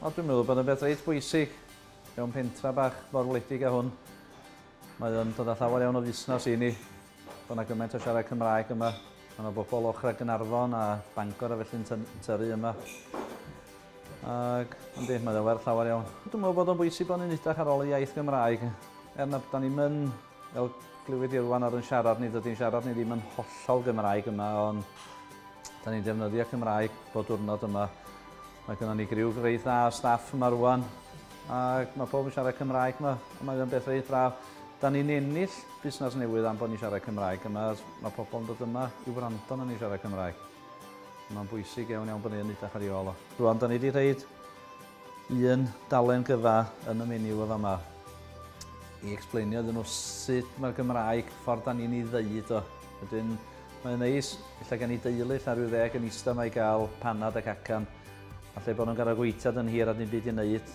O, dwi'n meddwl bod yn beth reit bwysig mewn pentra bach mor wledig a hwn. Mae o'n dod â llawer iawn o fusnes i ni. Bod yna gymaint o siarad Cymraeg yma. Mae yna bobl ochr a Gynarfon a Bangor a felly'n tyru yma. Ac, yndi, mae o'n werth llawer iawn. Dwi'n meddwl bod o'n bwysig bod ni'n edrych ar ôl y iaith Gymraeg. Er na bod ni'n mynd Fel glywid Irwan ar yn siarad ni, dydy'n siarad ni ddim yn hollol Gymraeg yma, ond da ni'n defnyddio Cymraeg bod diwrnod yma. Mae gennym ni griw reit dda o staff yma rwan, ac mae pob yn siarad Cymraeg yma, a mae o'n beth reit braf. Da ni'n ennill busnes newydd am bod ni'n siarad Cymraeg yma, mae pobl yn dod yma i wrando na ni'n siarad Cymraeg. Mae'n bwysig iawn iawn bod ni'n edrych ar ei ôl o. Rwan, da ni wedi rhaid Un dalen gyfa yn y menu yn fama i explainio iddyn nhw sut mae'r Gymraeg, ffordd da ni'n ei ddeud o. Wedyn, mae'n neis, lle gen i deulu, lle rhyw ddeg yn eista mae i gael panad ac acan, a lle bod nhw'n gael gweithad yn hir a ddim byd i wneud.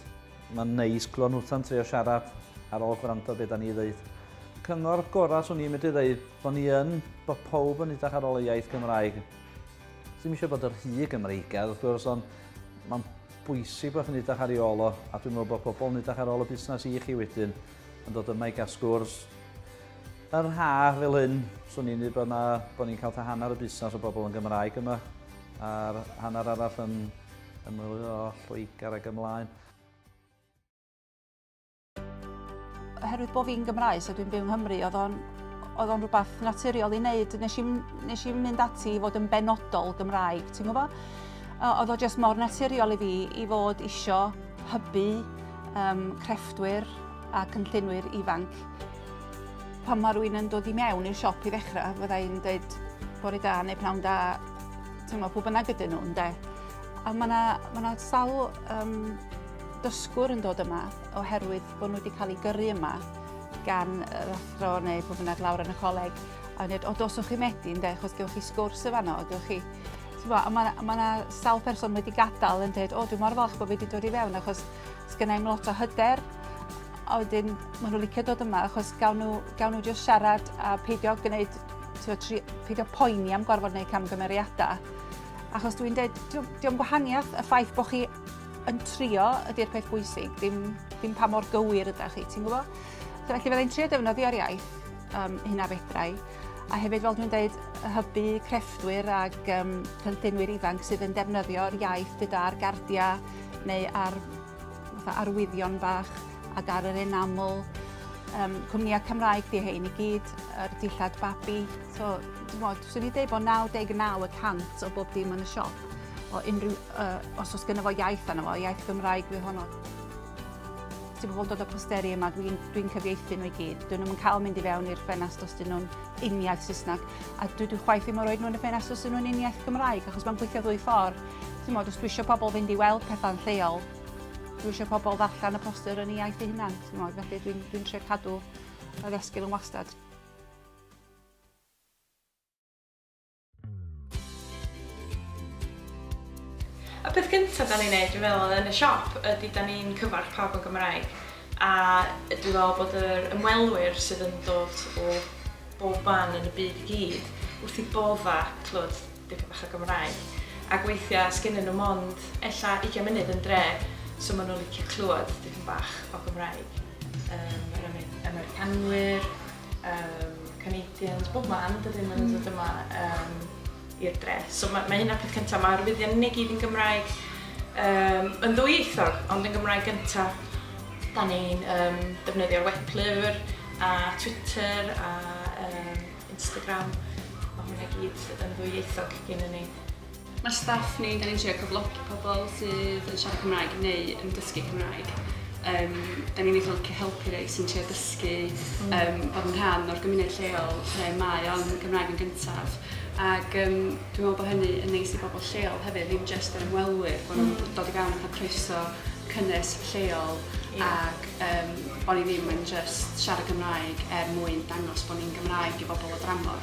Mae'n neis clywed nhw'n trio siarad ar ôl gwrando beth da ni ddeud. Cyngor gorau swn i'n medru ddeud bod ni yn, bod pawb yn edrych ar ôl y iaith Gymraeg. Ddim eisiau bod yr rhy Gymreigaidd wrth gwrs, ond mae'n bwysig bod chi'n edrych ar ei ôl o, a dwi'n meddwl bod pobl yn edrych ar ôl y busnes i chi wedyn, yn dod yma i gael sgwrs. Yr ha fel hyn, swn i'n dweud bod, na, bod ni'n cael ta hanner y busnes o bobl yn Gymraeg yma, a'r hanner arall yn ymwylio o Lloegr ac ymlaen. Oherwydd bod fi'n Gymraes a dwi'n byw yng Nghymru, oedd o'n oedd o'n rhywbeth naturiol i wneud. Nes i'n nes i mynd ati i fod yn benodol Gymraeg, ti'n gwybod? Oedd o jyst mor naturiol i fi i fod isio hybu um, crefftwyr a cynllunwyr ifanc. Pan mae rhywun yn dod i mewn i'r siop i ddechrau, fydda i'n dweud bore da neu pnawn da, ti'n gwybod, pwy bynnag ydyn nhw, ynde? A mae yna ma sawl um, dysgwr yn dod yma oherwydd bod nhw wedi cael eu gyrru yma gan yr athro neu pwy bynnag lawr yn y coleg a yn dweud, o dos o'ch chi medu ynde, achos gewch chi sgwrs y fanno, gewch chi... Bo, a mae yna ma sawl person wedi gadael yn dweud, o dwi'n mor falch bod fi wedi dod i fewn achos sgynnau i'm lot o hyder a wedyn maen nhw licio dod yma achos gawn nhw, gawn nhw just siarad a peidio gwneud, peidio poeni am gorfod gwneud camgymeriadau achos dwi'n dweud, diolch gwahaniaeth y ffaith bod chi yn trio ydy'r peth bwysig, dim, dim pa mor gywir ydych chi, ti'n gwybod? So, felly fydda i'n trio defnyddio'r iaith um, hyn a fedrau, a hefyd fel dwi'n dweud, hybu crefftwyr ac um, cynllunwyr ifanc sydd yn defnyddio'r iaith gyda'r gardiau neu ar arwyddion bach ac ar yr enaml. Um, cwmnïau Cymraeg di hyn i gyd, yr dillad babi. So, dwi'n meddwl, swn i'n dweud bod 99 y cant o bob dim yn y siop o unrhyw Yy, os oes gynno fo iaith arno fo, iaith Gymraeg yw honno. Ti'n pobl dod o posteri yma, dwi'n dwi cyfieithu nhw i gyd. Dyn nhw'n yn cael mynd i fewn i'r ffenast os dyn nhw'n uniaith Saesneg. A dwi dwi chwaith ddim yn rhoi nhw yn y ffenast os dyn nhw'n uniaith Gymraeg, achos mae'n gweithio ddwy ffordd. Ti'n modd, os dwi eisiau pobl fynd i weld pethau'n lleol, dwi eisiau pobl ddarllen y poster yn ei iaith ei hunan. Ti'n modd, felly dwi'n dwi trio cadw y ddesgyl yn wastad. Y peth gyntaf da ni'n neud dwi'n meddwl yn y siop ydy da ni'n cyfarch pawb yn Gymraeg a dwi'n meddwl bod yr ymwelwyr sydd yn dod o bob man yn y byd i gyd wrth i bodda clywed dipyn bach o Gymraeg ac weithiau sgennyn nhw mond ella 20 munud yn dre so maen nhw'n licio clywed dipyn bach o Gymraeg um, yr Americanwyr um, Canadians, bob man, dydyn nhw'n mm. dod yma um, i'r dre. So mae, mae hynna peth cyntaf, mae'r arwyddion ni gyd yn Gymraeg, um, yn ddwyieithog, ond yn Gymraeg gyntaf. Da ni'n um, defnyddio'r weblyfr a Twitter a um, Instagram, mae hwnna gyd yn ddwyieithog gen i ni. Mae staff ni, da ni'n trio cyflogi pobl sydd yn siarad Cymraeg neu yn dysgu Cymraeg. Um, da ni'n eitha licio helpu rei sy'n trio dysgu um, mm. bod yn rhan o'r gymuned lleol lle mae o'n Gymraeg yn gyntaf. Ac um, dwi'n meddwl bod hynny yn neis i bobl lleol hefyd, ddim jyst yr ymwelwyr, bod nhw'n mm. dod i fewn a croeso cynnes lleol yeah. ac um, bod ni ddim yn just siarad Gymraeg er mwyn dangos bod ni'n Gymraeg i bobl o dramor.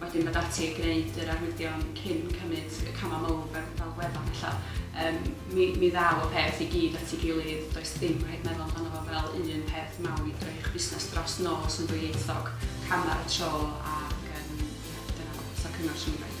wedyn mynd ati i gwneud yr arwyddion cyn cymryd y camau mawr fel, fel gwefan ella, um, mi, mi ddaw y peth i gyd at ei gilydd, does dim rhaid meddwl amdano fo fel un peth mawr i droi eich busnes dros nos yn ddwyieithog, cam ar y tro ac um, dyna, so cyngor sy'n rhaid.